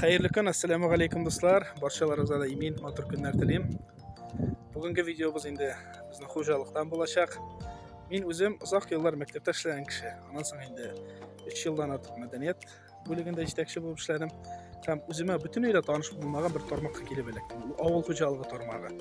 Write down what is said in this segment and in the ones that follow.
Хәерле көн, ассаламу алейкум дуслар. Барчаларыгызга да имин, матур көннәр телим. Бүгенге видеобыз инде безнең хуҗалыктан булачак. Мин үзем озак еллар мәктәптә эшләгән кеше. Аннан соң инде 3 елдан артык мәдәният бүлегендә җитәкче булып эшләдем. Һәм үземә бөтенләй дә таныш булмаган бер тармакка килеп эләктем. Ул авыл хуҗалыгы тармагы.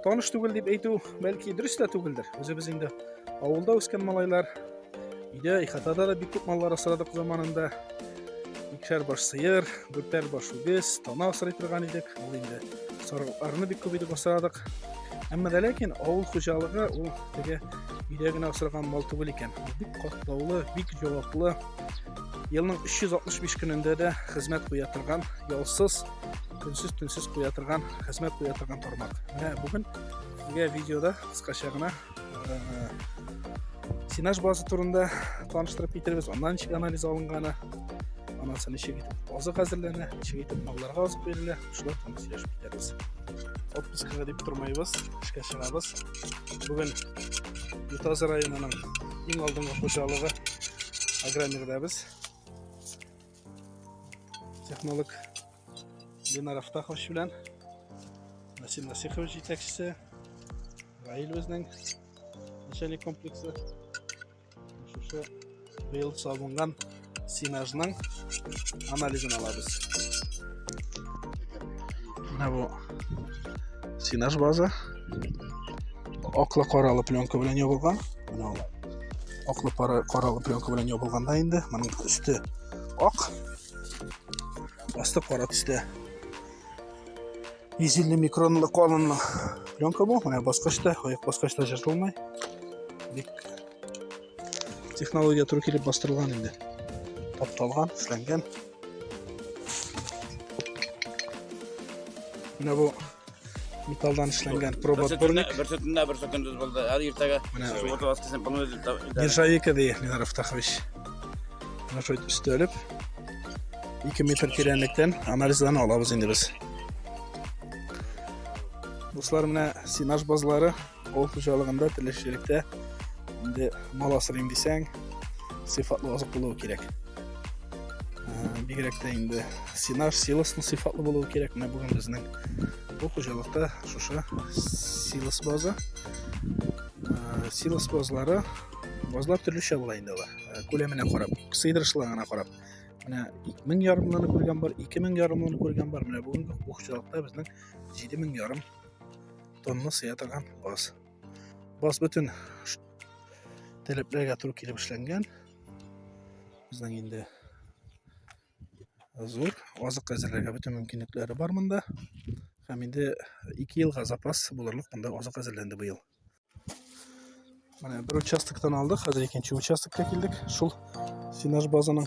Таныш түгел дип әйтү, бәлки дөрес тә түгелдер. Үзебез инде авылда үскән малайлар, Өйдә ихатада да бик күп маллар асрадык заманында. Икшәр баш сыер, дүртәр баш үгез, тана асрый торган идек. Ул инде сарыкларны бик күп итеп асрадык. Әмма дә ләкин авыл хуҗалыгы ул теге өйдә генә асраган мал түгел икән. Бик катлаулы, бик җаваплы. Елның 365 көнендә дә хезмәт куя торган, ялсыз, көнсез төнсез куя торган, хезмәт куя торган тармак. Менә бүген сезгә видеода кыскача гына сенаж базы турында таныштырып китеребез аннан ничек анализ алынганы анасы ничек итеп азык әзерләнә ничек итеп малларга азык бирелә шулар турында сөйләшеп китәрбез отпускага дип тормыйбыз эшкә чыгабыз бүген ютазы районының иң алдынгы хуҗалыгы агромирдәбез Технолог Ленар Афтахович белән Насир Насихович җитәкчесе, Раил безнең начальник комплексы. Шушы быел салынган синажның анализын алабыз. Менә бу синаж база. Аклы каралы пленка белән ябылган. Менә Аклы пара каралы пленка белән ябылганда инде моның өсте ак, асты кара төстә. 150 микронлы калынлы пленка бу, менә баскычта, аяк баскычта жыртылмай. Бик технология туры килеп бастырылган инде. Тапталган, эшләнгән. Менә бу металдан эшләнгән проба турник. Бер сөтендә бер сөтендә булды. Һәр иртәгә сугытып аскысен буны үзе. Нержавейка ди Ленар Автахович. Менә шул өстәлеп 2 метр тирәнлектән анализларны алабыз инде без. Дуслар, менә синаж базлары Авыл хуҗалыгында теләчелектә инде мал асырыйм дисәң, сыйфатлы азык булуы кирәк. Бигрәк тә инде синаж, силосны сыйфатлы булуы кирәк. Менә бүген безнең бу хуҗалыкта шушы силос базы. Силос базлары базлар төрлечә була инде алар. Күләменә карап, сыйдырышлыгына карап. Менә 1000 ярымлыны күргән бар, 2000 ярымлыны күргән бар. Менә бүгенге хуҗалыкта безнең 7000 ярым тонны сыя торган баз. Баз бөтен таләпләргә туры килеп эшләнгән. Безнең инде зур азык әзерләргә бөтен мөмкинлекләре бар монда. Һәм инде 2 елга запас булырлык монда азык әзерләнде быел. Менә бер участоктан алдык, хәзер икенче участокка килдек. Шул сенаж базаның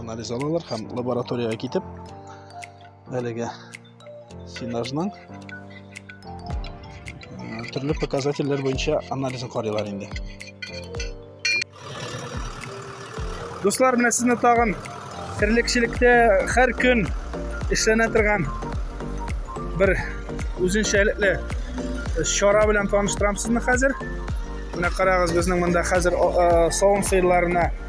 анализ алалар һәм лабораториягә китеп әлеге сенажның төрле показательләр буенча анализын карыйлар инде дуслар менә сезне тагын терлекчелектә һәр көн эшләнә торган бер үзенчәлекле чара белән таныштырам сезне хәзер менә карагыз безнең монда хәзер савым сыерларына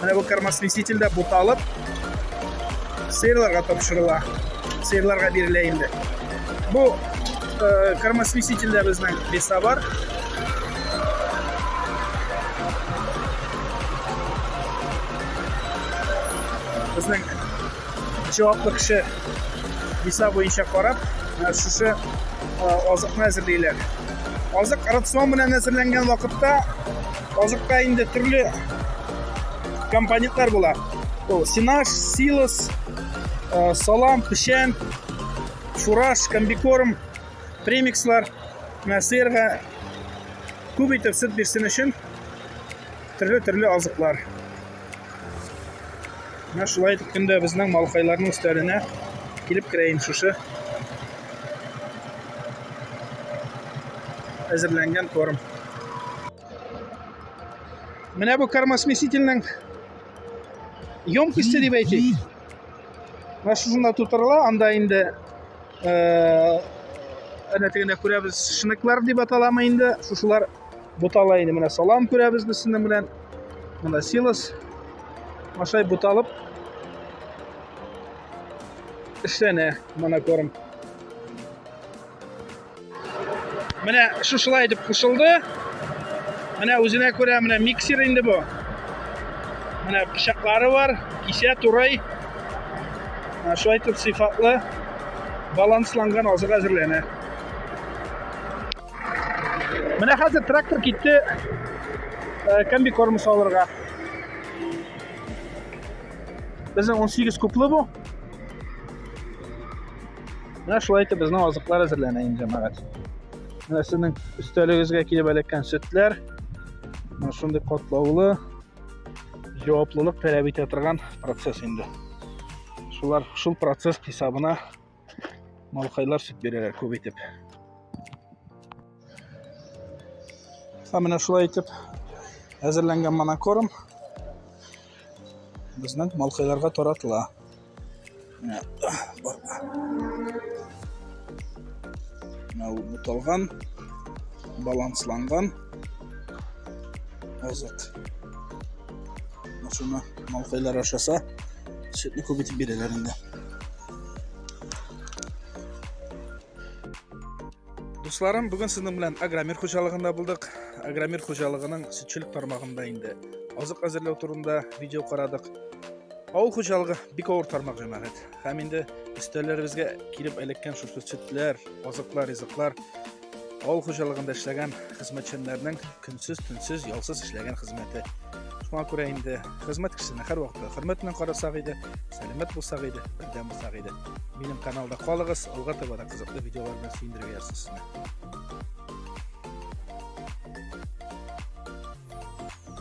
Менә бу кормосмеситель дә буталып сыерларга тапшырыла. Сыерларга бирелә инде. Бу э, кормосмеситель дә безнең беса бар. Безнең җаваплы кеше беса буенча карап, шушы азыкны әзерлиләр. Азык рацион белән әзерләнгән вакытта Азыкта инде төрле компонентлар була. Ул сенаж, силос, э, салам, печән, фураж, комбикорм, премикслар, сыерга күп итеп сөт бирсен өчен төрле-төрле азыклар. Менә шулай итеп көндә безнең малкайларның өстәленә килеп керә инде шушы әзерләнгән корм. Менә бу кормосмесительнең емкосте дип әйтик. Менә шушында тутырыла, анда инде әнә тегендә күрәбез шныклар дип аталамы инде, шушылар Бутала инде менә салам күрәбез без сезнең белән. Монда силос. Ашай буталып эшләнә монокорм. Менә шушылай итеп кушылды. Менә үзенә күрә менә миксер инде бу. Менә пычаклары бар, кисә турай. Шулай итеп сыйфатлы балансланган азык әзерләнә. Менә хәзер трактор китте э, комби корм салырга. Безнең 18 куплы бу. Менә шулай итеп безнең азыклар әзерләнә инде, җәмәгать. Менә сезнең өстәлегезгә килеп эләккән сөтләр. Менә шундый катлаулы җаваплылык таләп итә торган процесс инде. Шулар шул процесс хисабына Малкайлар сөт бирәләр күп итеп. Ә менә шулай итеп әзерләнгән монокорм безнең малкайларга таратыла. Менә бар. Менә ул буталган, балансланган азык. Шуны малкайлар ашаса, сөтне күп итеп бирәләр инде. Дусларым, бүген сезнең белән Агромир хуҗалыгында булдык. Агромир хуҗалыгының сөтчелек тармагында инде азык әзерләү турында видео карадык. Авыл хуҗалыгы бик авыр тармак җәмәгать. Һәм инде өстәлләребезгә килеп эләккән шушы сөтләр, азыклар, ризыклар Авыл хуҗалыгында эшләгән хезмәтчәннәрнең көнсез, төнсез, ялсыз эшләгән хезмәте. Шуңа күрә инде хезмәт кешесенә һәр вакытта хөрмәт белән карасак иде, сәламәт булсак иде, бердәм булсак иде. Минем каналда калыгыз, алга таба да кызыклы видеолар белән сөендерергә язсын сезне.